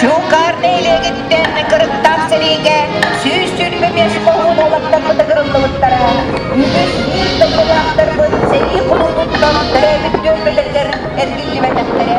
Чуҥкаарнай илиэгититтэн кырыктаах сэриигэ сүүс сүүрбэ биэс оҕуруот уолаттарбыт ыгыллыбыттара. Үгүс биир дойдулаахтарбыт сэрии кулуубуттан төрөөбүт түөлбүлэригэр эргиллибэтэхтэрэ.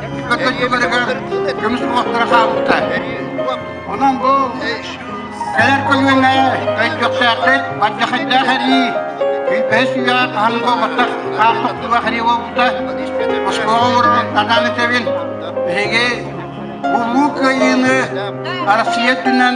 көмүс уоттара хаалбыта. Онон бу кэлэр көлүөнэ өйдөхсөөххүт, бардахайдаах эрии, күлбэһи сүүйэҕэр таһынан болҕоттох хаар тохтуулаах эрии буолбута. Оскуола олордун анаан этэбин. Биһиги Улуу Кыайыыны Арассыыйа өттүнэн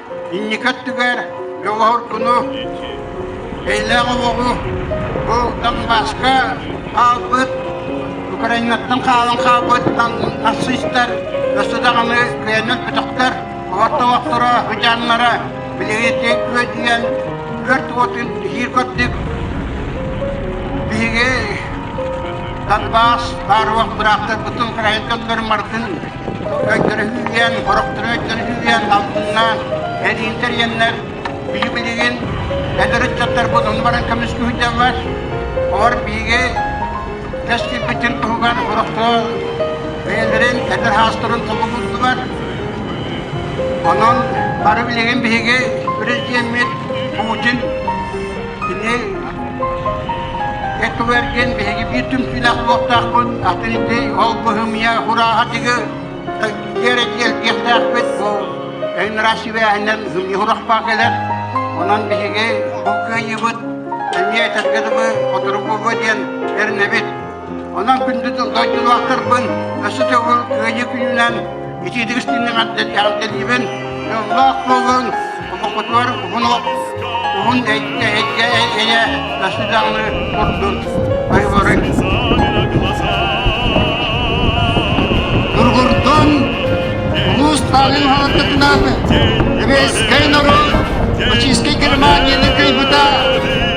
Инники өттүгэр Дьоҕурдуну, эйэлээх оҕоҕу бу Донбасска хаалбыт, Украинаттан хаалан хаалбыт нацистар өссө даҕаны кыайан өлбөтөхтөр, олор олохторо, сыдьааннара билигитик үөдүйэн, өлт уотун иһиир курдук биһиги Донбасс бааруок быраактарбытын, украинкаларын барытын Көрдөрүһүүгэ, сорохтору өттөрүһүүгэ алтыннаан, эриилтэр иэннэр, биһи билигин эдэр ыччаттарбыт онно баран көмүскүһүтэллэр. Олор биһиги тэс кирбитин туһугар сорохто бэйэлэрин эдэр хаастарын толу булдулар. Онон бары билигин биһиги президеммит Путин кини Эттылэр диэн биһиги биир түмсүүлээх суохтаахпыт, атын ити ол быһымыйа хурааһа тиги диэри диэлтиэхтээхпит бу өйүн раз сибээһинэн хымньы хурахпаа кэлэр. Онон биһиги бу кыайыбыт, эмиэ этэргэ дылы отыругуба диэн эрнэбит Онон күндү дойдулаахтарбын өссө төгүл кыайыы күнүнэн итиитик истиннэҕэрдэлиибин, дьоллоох буолун, омуккутугар уһун уһун эйэ өссө даҕаны курдун айыларын. Нургурдун улуус таанын халаттытынан Еврейскай норуот Российскай Германияны кыйбыта